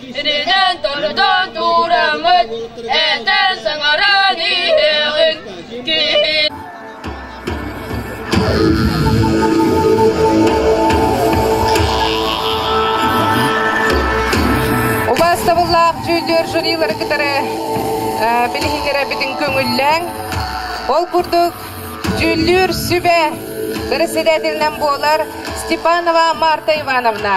Итинэн торутан туураммыт, этэн саҥаран иһиэҕиҥ киһи Убаастабыллаах дьүүллүөр жюрилары кытары билиһиннэрэ бүтүн көҥүллээҥ. Ол курдук дьүүллүүр сүбэ бэрэссэдээтэлинэн буолар Степанова Марта Ивановна.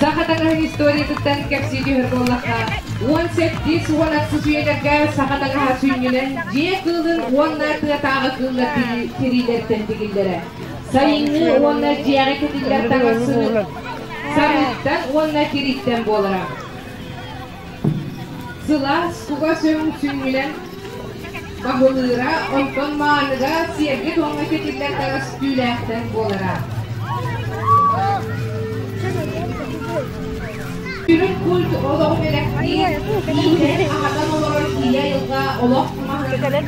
Саха таҥаһын историятыттан кэпсии түһэр буоллахха, уон сэттис уон алтыс үйэлэргэ саха таҥаһа сүнньүнэн дьиэ кыылын уонна тыатааҕы кыыллар тириилэртэн тигиллэрэ. Сайыҥҥы уонна дьиэҕи кэтиллэр таҥас сырыыттан уонна тирииттэн буолара. Сылаас кугас өҥ сүүрэн баһылыыра, онтон мааныга сиэргэ-туомҥа кэтиллэр таҕыс түүлээхтэр буолара. Сүрүн культ олох бэлэхтиир, иитэн, аһатан олорор ийэ айылҕа олох маһын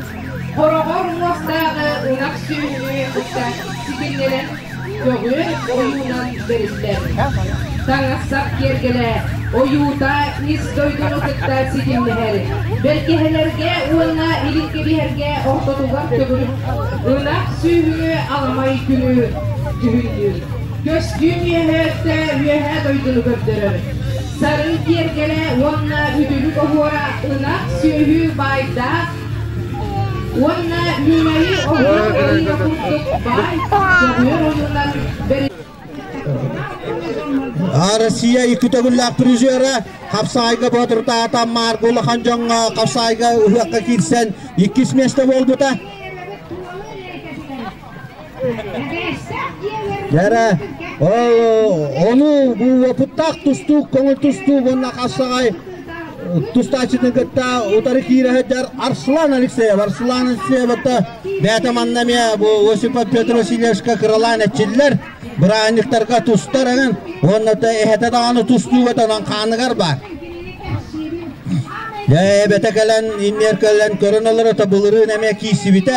хороҕор муостааҕы ынах сүөһү ыкса ситимнэнэн Көҕүөр ойуунан дьарыктаабыт. Таҥастар киэргэлэ, ойуута ис дойдуну кытта ситимнэһэр. Бэргэһэлэргэ уонна илиргэбиһэргэ ортотугар төгүрүк ынах сүөһү аламай күнү дьүһүйдүүр. Көстүүм үөһээттэ үөһээ дойдуну көрдөрөр. Сарын киэргэлэ уонна үтүлүк оһуора ынах сүөһү баайдаах Уонна Ньумайы ордук ойууна курдук баай, дьоҕур ойуунан А Россия икки төгүллээх призера хапсаайга боотурдаата Марк улахан дьоҥҥо хапсаайга ыһыахха киирсэн иккис миэстэ буолбута. Кэрэ, ону уопуттаах тустуу, көҥүл тустуу уонна хашаҕай тустааччытын кытта утары киирэ сылдьар Арслан Алексеев. Арслан Алексеевата бэйэтэ манна эмиэ бу Осипов Петр Васильевичка кыралаан эчиллэр бырааһынньыктарга тустар эҥин уонна да эһэтэ даҕаны тустууга тонон хааныгар баар. Дьэ эбэтэ кэлэн иннигэр кэлэн көрөн олороото былырыын эмиэ киирсибитэ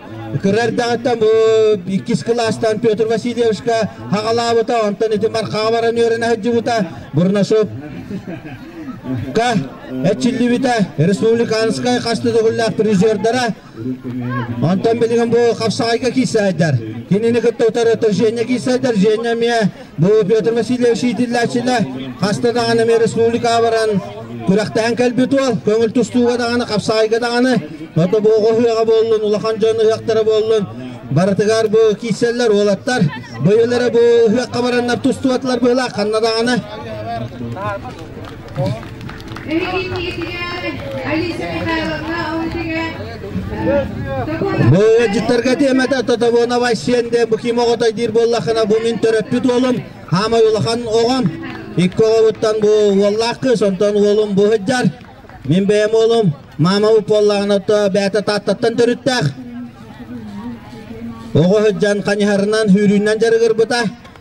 Кыра эрдэҕиттэн бу иккис кылаастан Петр Васильевичка хаҕалаабыта, онтон ити Мархаҕа баран үөрэнэ сылдьыбыта. Бурнашов эчиллибитэ республиканскай хас да төгүллээх призердара. Онтон билигин бу хапсаҕайга киирсээйдэр. Кинини кытта утары Женя киирсээйдэр. Женя эмиэ Петр Васильевич иитиллээччилэ хаста даҕаны ами республикаҕа баран күрэхтэһэн кэлбит уол көҥүл тустууга даҕаны хапсаҕайга даҕаны отобуоҕа ыһыаҕа буоллун улахан дьон ыһыахтара буоллун барытыгар бу киирсэллэр уолаттар быйылары бу ыһыахха бараннар тустубатылар быһылаах ханна даҕаны Быдьыттарга тиэмэтэ Татовонова сиэнде бу ким оҕотой диир буоллахына бу мин төрөппүт уолум хаамай улахан оҕом икки оҕобуттан бу уоллаах кыыс онтон уолум бу сыдьар мин бэйэм уолум маама уп буоллаҕына то бэйэтэ тааттаттан төрүттээх оҕо сыдьан ханьыһарынан сүүрүүннэн дьарыгырбыта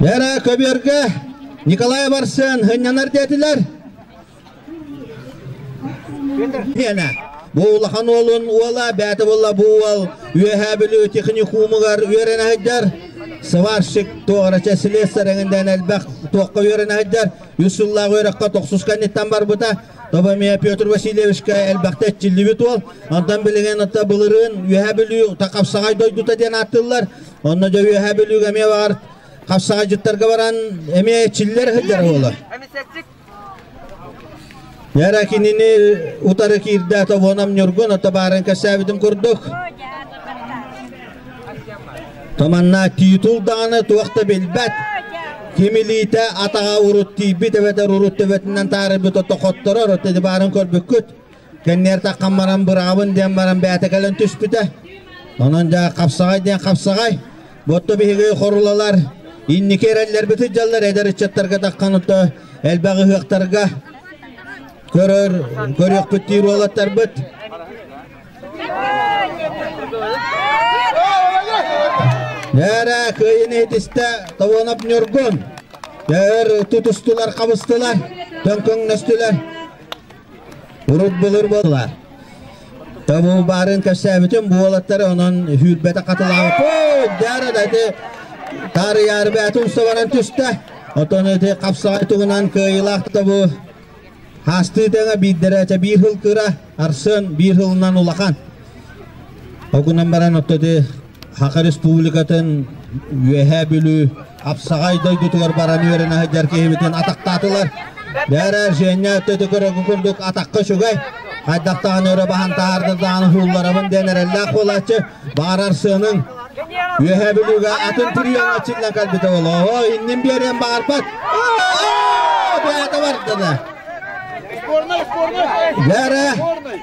Бэрэ көбүөргэ Николай Барсын хынньанар диэтилэр. Биэнэ бу улахан уолун уола бээти булла бу уол үөһээ бүлүү техникумугар үөрэн айдар сварщик тоҕарача слесар эҥиндээн элбэх туохха үөрэн айдар үс сыллаах үөрэххэ тохсус кэнниттэн барбыта Тоба мия Петр Васильевичка элбэхтэ этчиллибит уол. Онтон билигин отто былырын үөһэ бүлүү такапсаҕай дойдута диэн ааттыыллар. Онно да үөһэ бүлүүгэ эмиэ бар. Хапсаҕайдьыттарга баран эмиэ чиллэр сылдьар буолар. Яра кинини утары киирдэ тобонам ньургун, ото баарын кэсээбитин курдук. Томанна титул даҕаны туох да билбэт. Ким илиитэ атаҕа урут тиийбит эбэтэр урут төбөтүнэн таарыйбыт ото хотторор, ото баарын көрбүккүт. Кэнниэртэххэ баран быраабын диэн баран бээтэ кэлэн түспүтэ. Онон дьа хапсаҕай диэн хапсаҕай. Ботто биһиги хорулалар инники эрэллэрбити дьаллар эдэр ыччаттарга тахханытта элбэх ыһыахтарга көрөр көрүөхпүттиир уолаттарбыт. Эрэ кыйын иһитистэ Товонов Ньургун. Өр тутустулар, қабыстылар, төңкөңнөстүлэр. Урут былыр буолла. Тобул баарын көрсөөбүтүм бу уолаттары онон хүүрбэтэ хатылаабыт. Ой, дары дайды таарыйаары бээтэ устабаран түстэ. Отон эти хапсаҕай тугунан кыайылаах тобу хаастыытыга биирдэрэ этэ биир хыл кыра, арсын биир хылынан улахан. Огунан баран отто Саха Республикатын Үөһээ Бүлүү Апсаҕай дойдутугар баран үөрэн сылдьар киһибитин атахтаатылар. Бээрэ Женя өттөтө көрөргө курдук атахха үчүгэй. Хайдах даҕаны өрө баһан таһаарда даҕаны суулларабын диэн эрэллээх буолааччы баҕарар сыаның Үөһээ Бүлүүгэ атын триоҥа чиллэн кэлбитэ олоо иннин биэриэн баҕарбат. Бээтэ бардыны. Бээрэ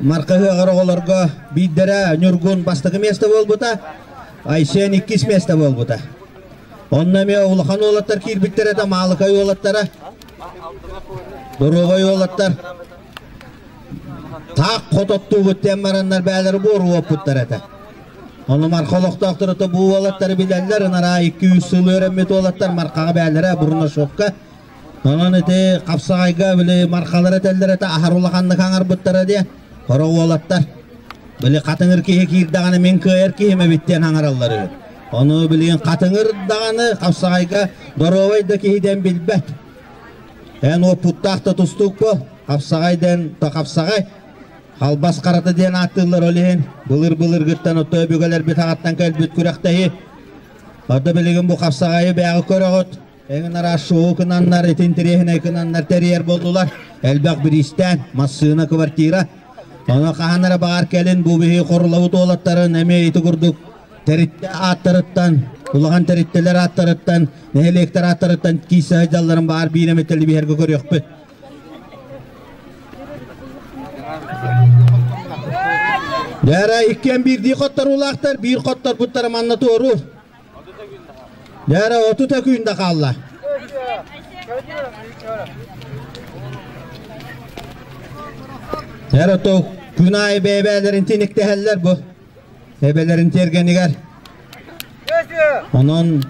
Марка Ыаҕар оҕолорго биирдэрэ Ньургун бастакы место буолбута, Айсен иккис место буолбута. Онно эмиэ улахан уолаттар киирбиттэр этэ, Маалыкай уолаттара, Доруобай уолаттар таах хот оттуубут диэн бараннар бээлэр буору уоппуттар этэ. Ону Марха олохтоохтор бу уолаттары билэллэр, ынараа 200 сыл өрөммүт уолаттар Мархаҕа бээлэрэ Бурнашовка Онон ити хапсаҕайга били мархалара этэллэр этэ аһар улаханнык хаҥарбыттара диye. Хоро уолаттар. Били хатыҥыр киһи киирдэҕинэ мин кыайар киһим эбит диэн хаҥараллар үһү. Ону билигин хатыҥыр даҕаны хапсаҕайга доруобай да киһи диэн билбэт. Эн уоппуттаах да тустуук бол. Хапсаҕай дэн то хапсаҕай. Халбас харата диэн ааттыыллар ол иһин былыр-былыргыттан отто өбүгэлэр бит хаттан кэлбит күрэхтэһи. Орда билигин бу хапсаҕайы бэйэҕи көрөҕүт. Эҥнара шоу кынаннар, интириэһинэй кынаннар тэрийэр буоллулар. Элбэх бириистээн, массыына, квартира. Ону хаһан эрэ баҕар кэлин бу биһи хорулабыт уолаттарын эмиэ ити курдук тэриттэ ааттарыттан, улахан тэриттэлэр ааттарыттан, нэһилиэктэр ааттарыттан киис сыһайдалларын баҕар биир эмит тэлибиһэргэ көрүөхпүт. Бэрэ иккиэн биирдии хоттор улаахтар, биир хоттор буттара манна туору. Дээрэ отут күн да хаалла. Дээрэ то күн аайы бэйбээлэрин тиниктэһэллэр бу эбэлэрин тиэргэнигэр. Онон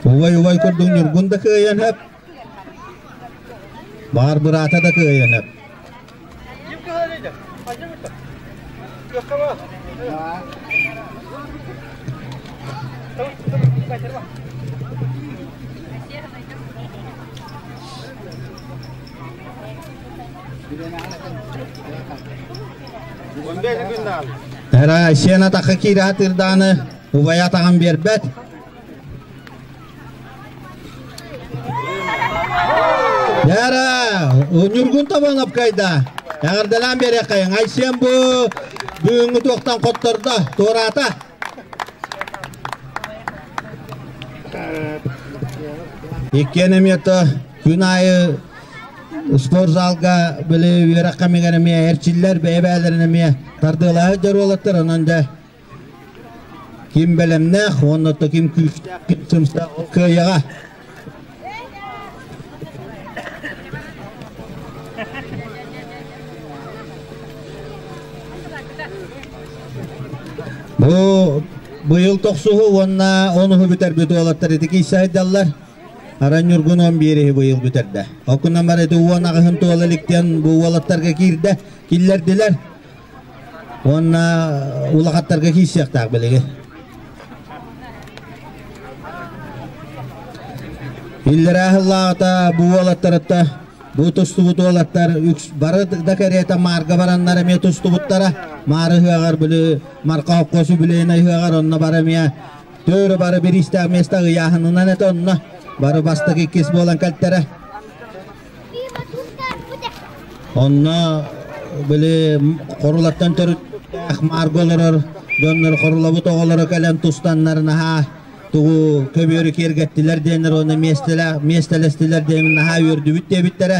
убай-убай курдук Ньургун да кыайан хөп. Баар быраата да кыайанар. Эра сена таха киирэ атырдааны убайа атаҕын биэрбэт. Яра, Ньургун табан апкайда. Эҕэрдэлээн биэриэххэ. Айсиэн бу бүгүҥҥү туохтан хоттордо, туораата. Иккиэн эмиэта күн аайы спорт залга били үөрэххэ мигэн эмиэ эрчиллэр бэйэ-бэйэлэрин эмиэ тардыалаһар дьоруолаттар онон дьэ Ким бэлэмнээх уонна да ким күүстээх, ким сымсаах ол кыайаҕа. Бу быйыл тохсуһу уонна он уһу бүтэрбит уолаттар итики сайдаллар. Аран Ньургун он биэриһи быйыл бүтэрдэ. Окунамар ити уон аҕыһын туола иликтиэн бу уолаттарга киирдэ, киллэрдилэр. Уонна улахаттарга киирсиэхтээх билиги. Иллэраа хыллаата бу уолаттарытта бу тустубут уолаттар үкс бары да кэриэтэ маарга бараннар эмиэ тустубуттара. Маары ыһыаҕар били Марка Хоккос үбүлэйинэй ыһыаҕар онно бары эмиэ төөрө бары бириистээх места ыйааһынынан этэ онно бары бастык иккис буолан кэлтэрэ. Онно били Хорулаттан төрүттээх Марго олорор дьоннор Хорулабыт оҕолоро кэлэн тустаннар наһаа тугу көбүөрү киэргэттилэр диэннэр уонна миэстэлэстилэр диэн наһаа үөрдүбүт диэбиттэрэ.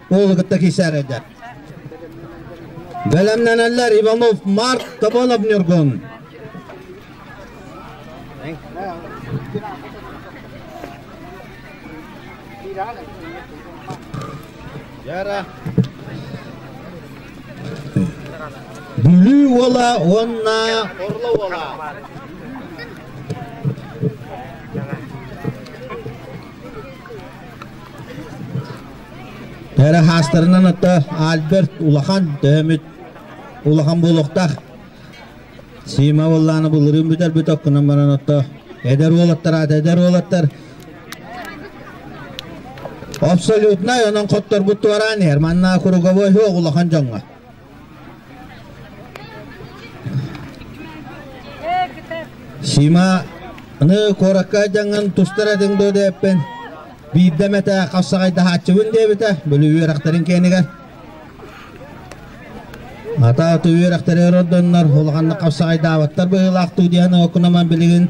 Уолу кытта кисәридер. Бәлемнәнәләр Иванов Март Тоболов Нюргун. Яра. Бүлүү уола уонна Орло уола. Перехастарынан атта Альберт улахан төһөмүт улахан буолуохтах. Сима боллааны былырын бүтэрбит оккунан баран отто эдер уолаттар эдер уолаттар абсолютнай онон хотторбут туораан эрманна круговой оҕ улахан жоңга Сима, аны куоракка дьаҥын тустар этиҥ дуо диэппин, биирдэ эмэтэ хапсаҕайдаһааччыбын диэбитэ, били үөрэхтэрин киэнигэр. Ата ото үөрэхтэри ордоннор, улаханнык хапсаҕайдаабыттар быһыылаах дуу диэн окунаман билигин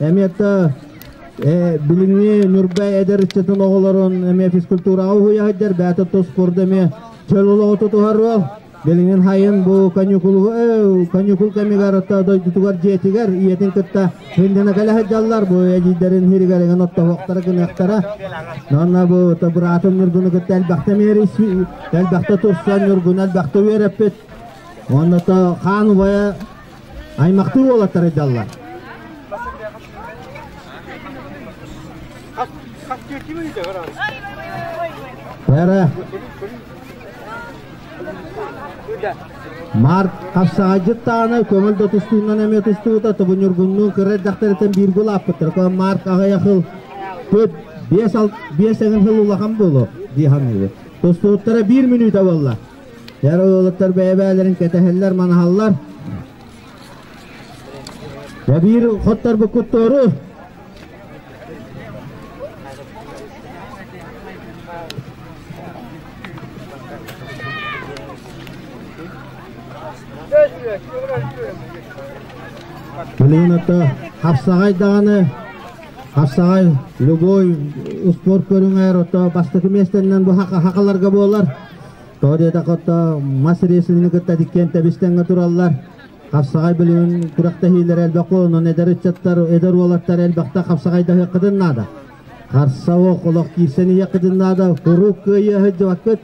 Эмиэте билиҥҥи Ньурбай эдэр ыччатын оҕолорун эмиэ физкультураҕа уһуйаһайдар бэйэтэ туспорда эмиэ чөл олоҕу тутуһарыал билиҥҥин хайын бу каникул каникул кэмигэр дойдутугар дьиэтигэр ийэтин кытта хиндина кэлэһэ дьаллар бу эдийдэрин хиригэригин оттоһуохтара гыныахтара нонна бу быраатын ньургуну кытта элбэхте миэри элбэхте турсан ньургуну элбэхте үөрэппит онно то хаан убайа Аймахтыы уолаттар айдаллар. Бәрэ. Март хапсаҕайдьыттаана көҥүл да тустуунан эмиэ тустубута тобу ньургуннуун кыра эрдэхтэриттэн бииргэ улааппыттар коо Март аҕыйа хыл төп биэс биэс эҥин хыл улахан буолу дии саныыбыт. Тустубуттара биир мүнүүтэ буолла. Эр уолаттар бэйэ-бэйэлэрин кэтэһэллэр, манаһаллар. Дэ биир хоттарбыт куттуору. Билигин отто хапсаҕай даҕаны хапсаҕай любой спорт көрүҥэр отто бастакы миэстэннэн бу хакаларга буолар. Тоҕо диэтэххэ, мас ресурсunu кытта тиккиэн тэбистэнгэ тураллар. Хапсаҕай бөлүгүн күрэхтэһиилэрэ элбэххэ онон эдэр ыччаттар, эдэр уолаттар элбэхтэ хапсаҕайдаһыаххытын наада. Харса олох олох киирсэн иһиэххитин наада. Куруук кыайыы сылдьыбаккыт.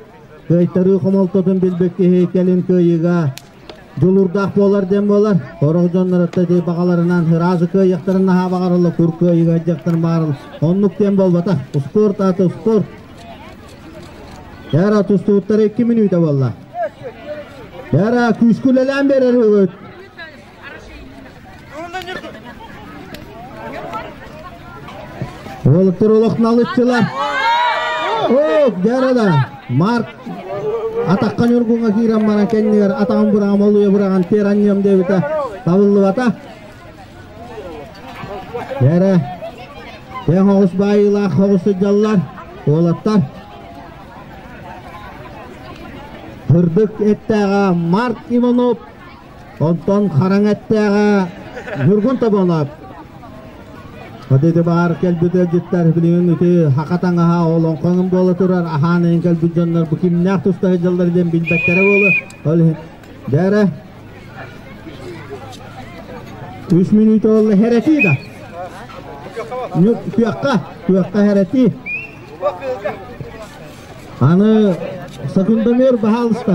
Кыайтарыы хомолтотун билбит киһи кэлин кыайыыга дьулуурдаах буолар диэн буолар сорох дьоннору дии баҕаларынан ыраазы кыайыахтарын наһаа баҕарылла кур кыайыга дьахтар баарыл оннук диэн буолбата ускуорт аты ускуорт яра тустууттара икки мүнүүтэ буолла яра күүскүлэлээн берер үгүт Уолуктар олохналыччылар. Оп, дәрада. Марк атаққа ньургунга киирэн баран кэннигэр атаҕын быраҕым олуйа быраҕан теранньым диэбитэ табыллыбата. Бэрэ, тең оҕус баайыылаах оҕус сыдьаллар, уолаттар. Кырдык эттээҕэ Марк Иванов Онтон хараҥ эттээҕэ Ньургун Тоболоп. Ити баар кэлбит ыалдьыттар билигин ити хака таҥаһа олоҥхоҥун буола турар аһаан эйин кэлбит дьоннор бу кимнээх тустаһы дьаллар диэн билбэттэрэ буолу. Ол иһин бээрэ үс мүнүүтэ olla хэрэтии да. Күөххэ, күөххэ хэрэтии. Аны Сакундамир баһалыста.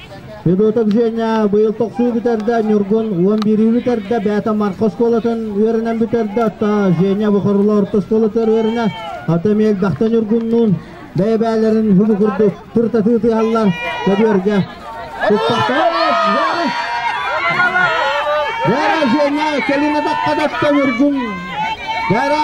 Любетов Женя быйыл тохсуу бүтэрдэ Ньургун уон биирии бүтэрдэ бэйэтэ Марха оскуолатын үөрэнэн бүтэрдэ отто Женя Бухарыла орто оскуолатыгар үөрэнэ ата эмиэ элбэхтэ Ньургуннуун бэйэ-бэйэлэрин уһугу курдук тыртатыы тыаһаллар көбүөргэ Гара Женя кэлин атахха тотто Ньургун Гара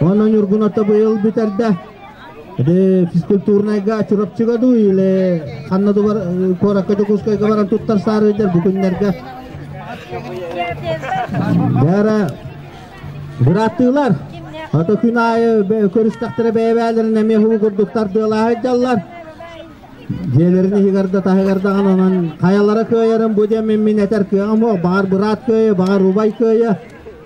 Уонна Ньургун ото быйыл бүтэрдэ. Ити физкультурнайга Чурапчыга дуу или ханна дубар куоракка Дьокуускайга баран туттар саарыйдар бу күннэргэ. Бәрэ быраттыылар. Ото күн айы көрүстэхтэрэ бэйэбээлэрин эмиэ хуу курдуктар дыалаһай дьаллар. Дьиэлэрин иһигэрде таһыгардаҕын онон хайалара кыайарын бу дем мин этэр кыаҕым о, бағар быраат кыайы, бағар убай кыайы.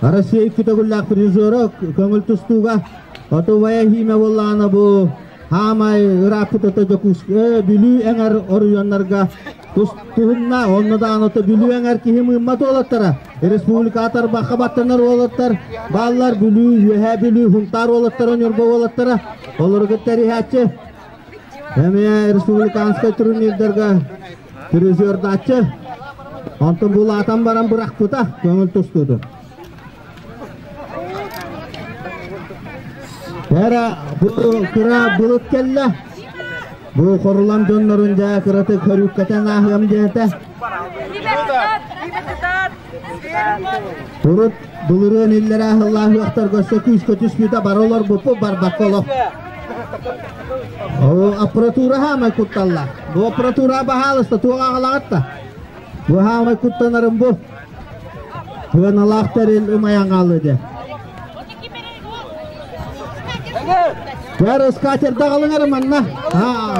Россия икки төгүллээх режиссера көҥүл тустууга Отувая химия буоллаҕына бу хаамай ырааппытата Дьокуускай Бүлүү эҥэр оройуоннарга тустуһунна. Онно даҕаны ото Бүлүү эҥэр киһи мыымма туолаттара. Республика атарбахха баттанар уолаттар бааллар Бүлүү, Үөһээ Бүлүү, Хунтаар уолаттара Ньурба уолаттара. Олору кытта риһээччи Эмиэ республиканскай турнирдарга призердааччы онтон булаатан баран бырахпыта көҥүл тустуутун. Эрэ бу кыра былыт кэллэ. Бу хорулан дьоннорун дьэ кыратык көрүүккэтэн ааһыам диэтэ. Урут былырыын иллэрээ сыллаах үөхтэргэ өссө күүскэ түспүүтэ бары олорбуппу барбакка олох. Оо, аппаратура хаамай кутталла. Бу аппаратура баһаалыста туох аҕалаҕатта? Бу хаамай куттанарын бу. Кыаналаах тэрил ымайан хаалды. Көр, скатер даҕалыҥар манна. Аа,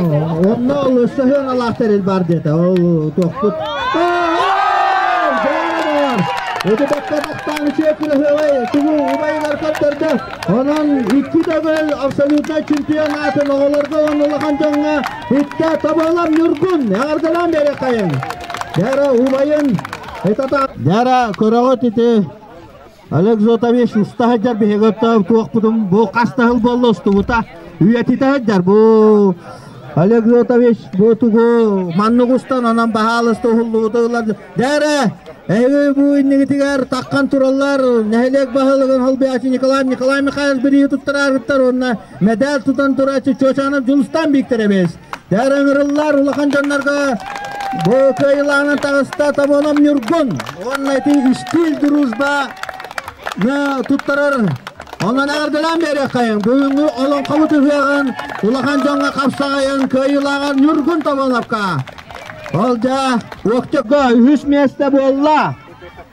онно ол өссө сыһыаналаах тэрил баар диэтэ. Ол тохпут. Ити бэккэ тахтаан үчүгэй кыраһыабай тугу убайылар көрдөрдө. Онон икки төгүл абсолютнай чемпионатын оҕолорго уонна улахан дьоҥҥо иттэ тоболам ньургун эҕэрдэлээн берекайын. Дәрэ убайын Дәрэ көрөҕүт ити Александрович уста сылдьар биһиги оттоон туохпутун бу хаста сыл буолла устубута үйэтитэ сылдьар бу Александрович бу тугу маннык устан онон баһаалыста уһуллубута ылар дээрэ эһиги бу иннигитигэр такхан тураллар нэһилиэк баһылыгын холбиачы Николай Николай Михайлович бириги туттараарыттар уонна медаль тутан тураачы Чочанов Дьулустан бииктеребиз Дэр ыҥырыллар улахан дьоннорго бу кыайылаанан таҕыста Томоном Ньургун уонна ити үстүүл дружба туттарар Онон эҕэрдэлээн биэриэххэйин бүгүҥҥү олоҥхобут ыһыаҕын улахан дьоҥҥо хапсаҕайын кыайыылааҕар Ньургун Тоболовка. Ол дьа уоктекко үһүс миэстэ буолла.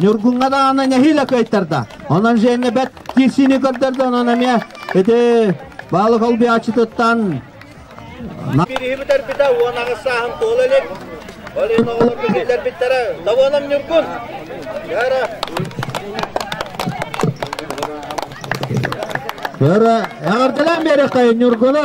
Ньургуҥҥа даҕаны нэһиилэ кыайтарда. Онон Женя бэрт киирсиини көрдөрдө, онон эмиэ ити баалы колбиаччытыттан Бириһибитэрбитэ уон аҕыс сааһым туола илик. Ол иһин оҕолор билиилэрбиттэрэ «Даволам Ньургун!» Яра! Бөрө, эҕэрдэлээн биэриэххэ Ньургуну!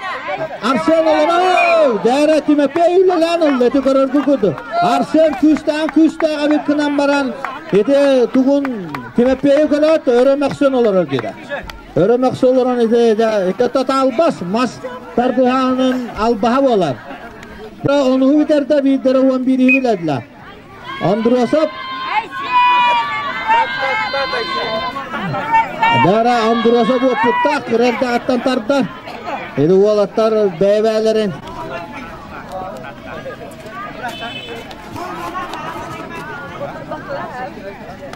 Арсен Оломов! Дээрэ Тимофей үлэлээн ылла ити көрөргө курдук. Арсен күүстээн күүстээх эбит гынан баран ити тугун Тимофейу көрөөт өрө мөхсөн олорор деді. Өрө мөхсө олорон ити тоталбас мас тардыһаанын албаһа болар. Онуһу бүтэрде биирдэрэ он биирин биледилер. Андросов! Дара Андросов уопуттаах кырар да аттан тарда. Ити уолаттар бэйбээлэрин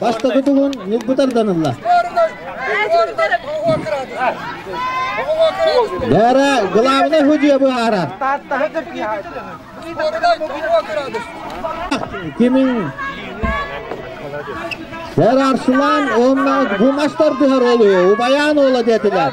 Бастакы тулун ньукбутар данылла. Бара главный худье быһара. Кимин Сэр Арслан онна гумастар дыһар олу, убаян ола детилер.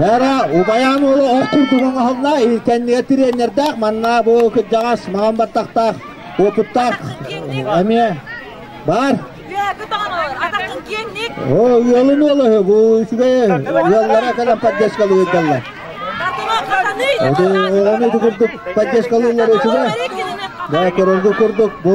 Бара убайаам уолу эр курдук оҥоһунна, кэннигэ тренердээх, манна бу кырдьаҕас маҥан баттахтаах, уопуттаах эмиэ баар. О, ыалын уола үһү, бу үчүгэй ыаллара кэлэн поддержкалыырдаллар. Ону курдук поддержкалыыллар үчүгэй. Да, көрөргө курдук бу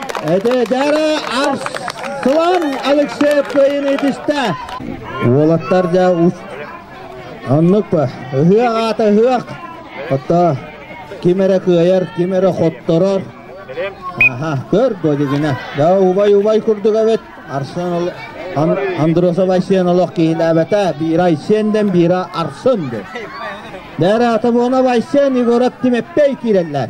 Эдэрэ Арслан Алексеевкайын итистэ. Уолаттар дьэ аннык ба ыһыах аата ыһыах. Отто ким эрэ кыайар, ким эрэ хотторор. Аха, көр бодигина. Да убай убай курдук эбит. Арсен Андросов Айсен олох киилээбэтэ. Биира Айсенден, биира Арсын де. Дәрэ атамона Айсен Егорат Тимеппей киирэллэр.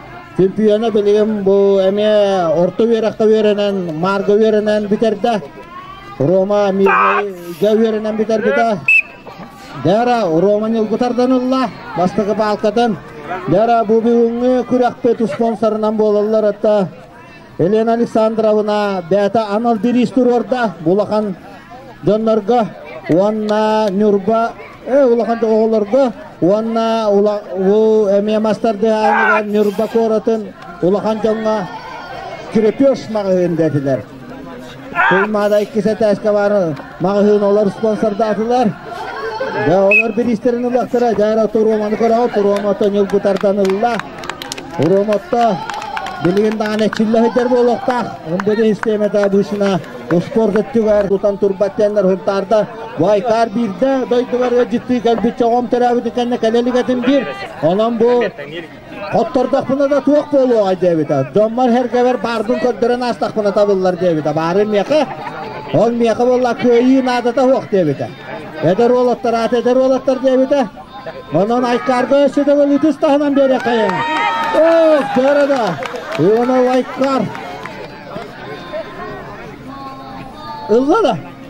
Силпиана билигин бу эмиэ орто үөрэххэ үөрэнэн, маарга үөрэнэн бүтэрдэ. Рома Мирнэйгэ үөрэнэн бүтэрбитэ. Дара Рома Ньылгы тардан ылла бастакы паалкатын. Дара бу бүгүҥҥү күрэхпит спонсорынан буолаллар атта Елена Александровна бэйэтэ анал бириис туруорда улахан дьоннорго уонна Ньурба э, улахан оҕолорго уонна бу эмиэ мастар дыһааныгар Ньурба куоратын улахан дьоҥҥо крепеж маҕаһыын дэтилэр. Сыл Маадай иккис этээскэ баарын маҕаһыын олор спонсордаатылар. Бэ олор бириистэрин ылыахтара дьаара туруоманы көрөҕө туруомото ньылгы тардан ылла. Уруомото билигин даҕаны эчиллэ сылдьар буолуохтаах. Ындыгы систиэмэтэ быышына успуорт өттүгэр тутан турбат диэннэр хунтаарда. Бу айкаар биирдэ дойдубар ыалдьыттыы кэлбит чоҕом төрөөбүтүн кэннэ кэлэ илигэтин биир. Онон бу Оттордохпуна да туох буолуоҕай диэбитэ. Дьоммор herгэбэр баардын көрдөрөн аастахпына табыллар диэбитэ. Баарын миэхэ. Ол миэхэ буолла кыайыы наадата суох диэбитэ. Эдэр уолаттар аат эдэр уолаттар диэбитэ. Онон айкаарга өссөтөҕүл итис таһынан биэриэххэйин. Ох, дьара да. Уона лайкаар. Ылла да.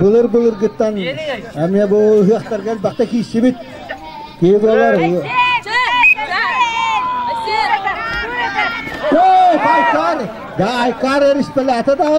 Былыр-былыргыттан эмиэ бу ыһыахтарга элбэхтэ киирсибит кибралар Байкар, Гайкар республиката да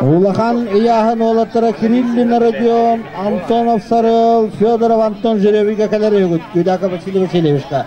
Улахан ыйааһын уолаттара Кириллин Родион, Антонов Сарыл, Федоров Антон Жеребийгэ кэлэр үһүгүт. Кюдака Василий Васильевичка.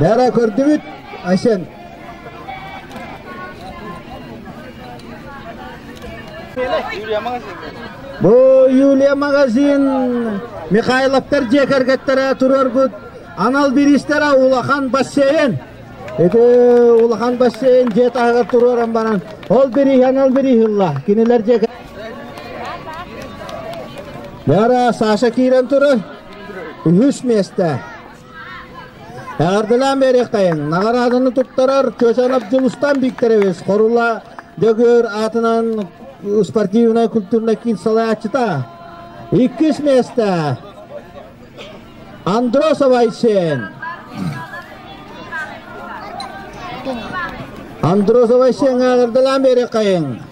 Бээрэ көрдүбүт Айсен. Бу Юлия магазин Михайловтар дьиэ кэргэттэрэ тураргут анал биристэрэ улахан бассейн. Ити улахан бассейн дьиэ таһыгар туруоран баран ол бириһи анал бириһи ылла. Кинилэр дьиэ Бара Саша киирэн турар. Үһүс миэсте. Эҕэрдэлээн бериэхтайын наҕарааданы туттарар Чочанов Дьулустан Викторович Хорула Дөгөр аатынан спортивнай культурнай киин салайааччыта. Иккис миэстэ. Андросов Айсен. Андросов Айсен аалырдалаан берекайын.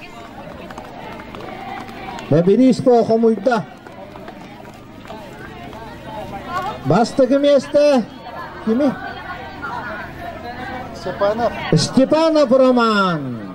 Бэбирииско хомуйда. Бастыгы месте. Кими? Степанов. Степанов Роман.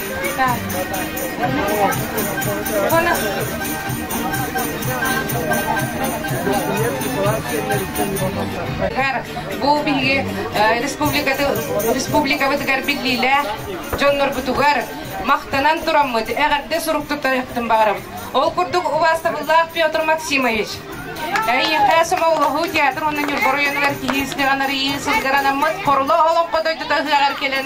Бу биһиги республикабытыгар биллиилээх дьоннорбутугар махтанан тураммыт, эҕэрдэ сурук туттарыахпытын баҕарабыт. Ол курдук убаастабыллаах Петр Максимович. Эйиэхэ Сомоҕолоһуу театр уонна Ньурба оройуонугар киһи ыстыган арыйыы сылгар анаммыт Хорула Олоҥхо дойдута ыһыаҕар кэлэн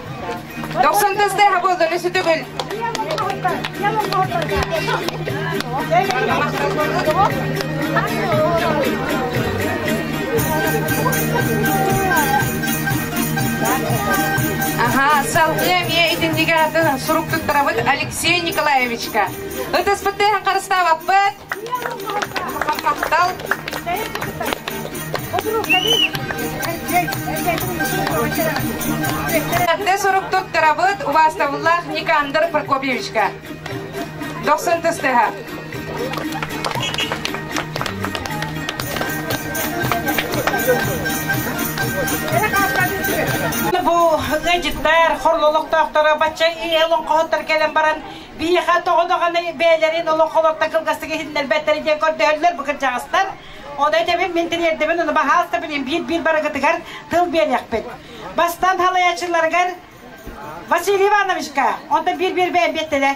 Дохсун тысты хабылданы сүтүгүл. Ага, салгыы эмиэ итиннигэ атын сурук туттарабыт Алексей Николаевичка. Ытыспыттыын харыстаабаппыт. Таптал сорук туттарабыт убаастабыллаах Никандр Прокопьевичка. Дохсун тыстыһа. Бу ыдьыттар, хорлолохтоохторо бачча ийэ олоҥхоһуттар кэлэн баран Биһиэхэ тоҕо даҕаны бэйэлэрин олох холотто кылгастык иһиннэрбэттэрэ диэн көрдөһөллөр бу кырдьаҕастар. Ону этэбин, мин тириэрдэбин, аны баһаас да билин биир биир барыгытыгар тыл биэриэхпит. Бастаан халайааччыларыгар Василий Ивановичка, онтон биир биир бэйэм биэттилэр.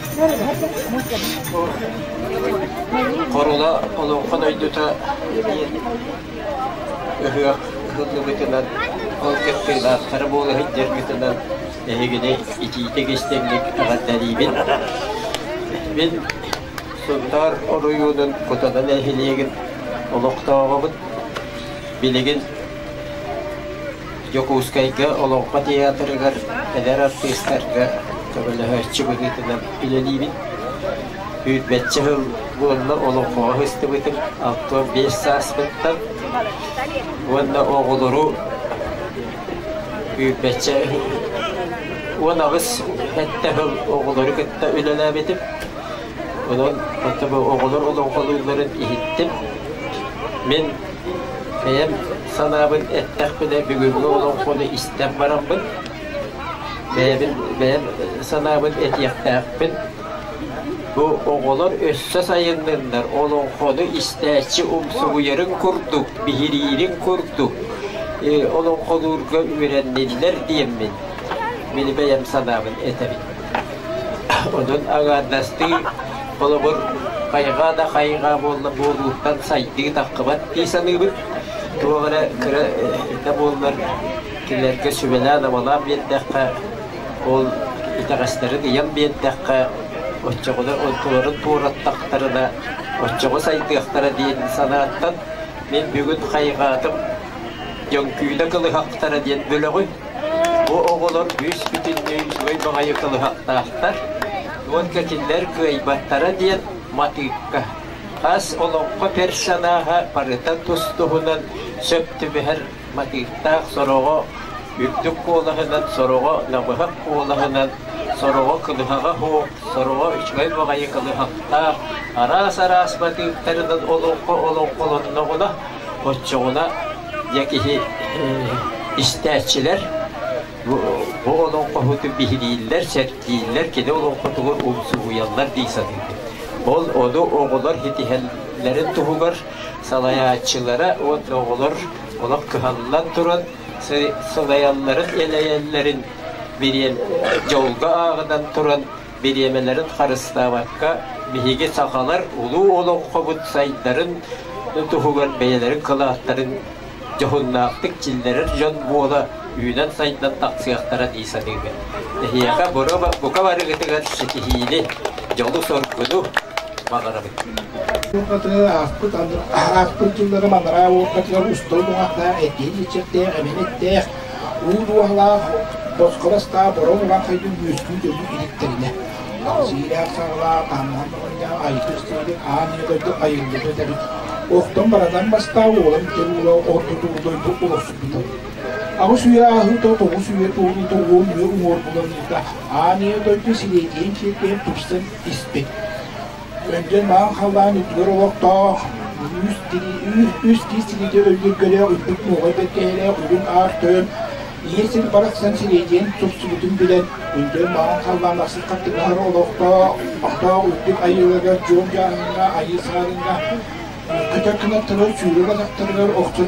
Хорула Олоҥхо дойдута эмиэ ыһыах ыһыллыбытынан, ол кыттыылаахтара буола сылдьаргытынан эһигини итиитик истиҥник эҕэрдэлиибин. Мин Сунтаар оройуонун Кутана нэһилиэгин олохтооҕобут. Билигин Дьокуускайга Олоҥхо театрыгар эдэр артыыстарга көмөлөһөөччү быһыытынан үлэлиибин. Күүрбэччэ сыл буолла олоҥхоҕо сыстыбытым алта биэс сааспыттан уонна оҕолору күүрбэччэ уон аҕыс сэттэ сыл оҕолору кытта үлэлээбитим. Онон оҕолор олоҥхолуулларын иһиттим. Мин Бэйэм санаабын эттэхпинэ, бүгүҥҥү олоҥхону истэн бараммын, бэйэбин бэйэм санаабын этиэхтээхпин. Бу оҕолор өссө сайынныннар, олоҥхону истээччи умсугуйарын курдук, биһириирин курдук олоҥхолуурга үөрэнниннэр диэммин били бэйэм санаабын этэбин. Онон аҥаардастыы, холобур, хайҕаа да хайҕаа буолла буолууттан сайдыы таххыбат дии саныыбын. Туох эрэ кыра да буоллар кинилэргэ сүбэлээн-амалаан биэрдэххэ, ол итэҕэстэрин ыйан биэрдэххэ, оччоҕуна онтуларын туораттахтарына, оччоҕо сайдыахтара диэн санааттан мин бүгүн хайҕаатым, дьөҥкүүнэ кылыһахтара диэн бөлөҕү Бу оҕолор күүспүтүннүү үчүгэй баҕайы кылыһахтаахтар уонна кинилэр кыайбаттара диэн матыыпка, хас олоҥхо персонажа барыта тус-туһунан сөп түбэһэр матыыптаах сороҕо үрдүк куолаһынан, сороҕо намыһах куолаһынан, сороҕо кылыһаҕа оһуох, сороҕо үчүгэй баҕайы кылыһахтаах араас-араас матыыптарынан олоҥхо олоҥхолонноҕуна Оччоҕуна дьэ киһи истээччилэр бу олоҥхоһуту биһирииллэр, сэргииллэр, кини олоҥхотугар умсугуйаллар дии саныыбын. Ол ону оҕолор ситиһэллэрин туһугар салайааччылара уонна оҕолор олох кыһаллан туран сылайалларын, элэйэллэрин бириэн дьолго ааҕынан туран бириэмэлэрин харыстаабакка, биһиги сахалар улуу олоҥхобут сайдарын туһугар бэйэлэрин кылааттарын дьоһуннаахтык чиллэрэр дьон буола үүнэн сайдан тахсыахтара дии саныыбын. Эһиэхэ бука барыгытыгар ситиһиини, дьолу-соргуну баҕарабыт. Ааспыт ааспыт дьыллары манараа уокатыгар устал буҕахта этиин иччэхтээх, эбэн эттээх, Уу дуоһалаах, босхо бастаах бороҕ улаахайга үөскүү дьону иһиттэринэ, кэпсиилээх саҕалаах таһымнаах оҕонньоох Айсыс диэбит аан ийэ дойду айыллыбыт эбит. Охтон баратан бастаах уолан итэр уула ордутуур дойду олохсуйбута. Аҕыс үйэ ааһыыта тоҕус үйэ туоруута уон үйэ уҥуор буланыыта аан ийэ дойду силиэдийэн сирдээн тупсан испит. Эргэн маан халлаан үрдүгэр олохтоох үс тиис тириити өллүргэлээх үрдүк нуоҕай бэргэһэлээх үрүҥ аар тойон ийэ сир барахсан сирэйдиэн тупсубутун билэн үргэн маан халлаан ахсын хаттыҥаһар олохтоох олохтоох үрдүк айыыларыгар дьуон дьааһыҥҥа айыы сааһыҥҥа көтөр кынаттарыгар сүүрэ батахтарыгар охсон